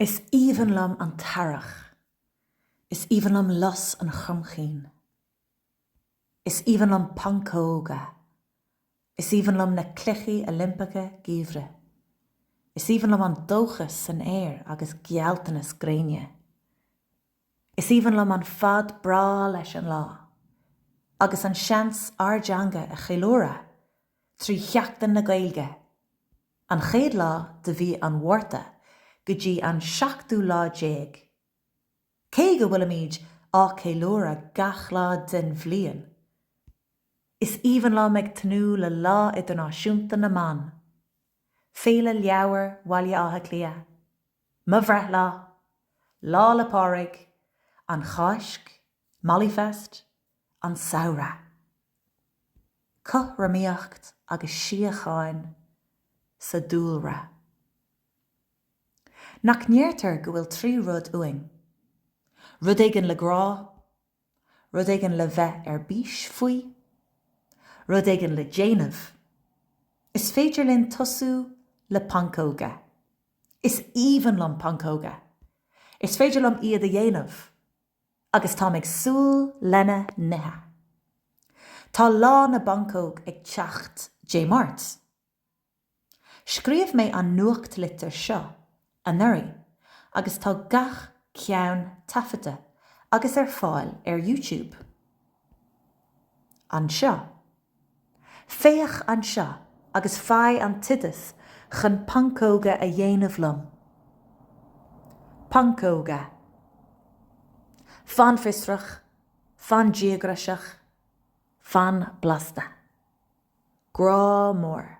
Is aoibhinn liom an t-earrach. Is aoibhinn liom lus an chromchinn. Is aoibhinn liom pancóga. Is aoibhinn liom na Cluichí Oilimpeacha Geimhridh. Is aoibhinn liom an dóchas san aer agus gealltanas gréine. Is aoibhinn liom an fad breá leis an lá, agus an seans ár dteanga a cheiliúradh trí Sheachtain na Gaeilge! An chéad lá de mhí an Mhárta go dtí an seachtú lá déag. Cé go bhfuilimid á ceiliúradh gach lá den bhliain, is aoibhinn liom a bheith ag tnúth le Lá Idirnáisiúnta na mBan, Féile Leabhar Bhaile Átha Cliath, mo bhreithlá, Lá 'le Pádraig, an Cháisc, Mollyfest, an samhradh. Cothromaíocht agus síocháin sa dúlra. Nach ndeirtear go bhfuil trí rud uainn? Rud éigin le grá, rud éigin le bheith ar bís faoi, rud éigin le déanamh. Is féidir linn tosú le pancóga. Is aoibhinn liom pancóga! Is féidir liom iad a dhéanamh! agus táim ag súil lena n-ithe. Tá lá na bpancóg ag teacht Dé Máirt. Scríobh mé an nuachtlitir seo anuraidh agus tá gach ceann taifeadta agus ar fáil ar YouTube. Anseo. Féach anseo agus faigh an t-oideas chun pancóga a dhéanamh liom. Pancóga. Fan fiosrach, fan díograiseach, fan blasta. Grá mór.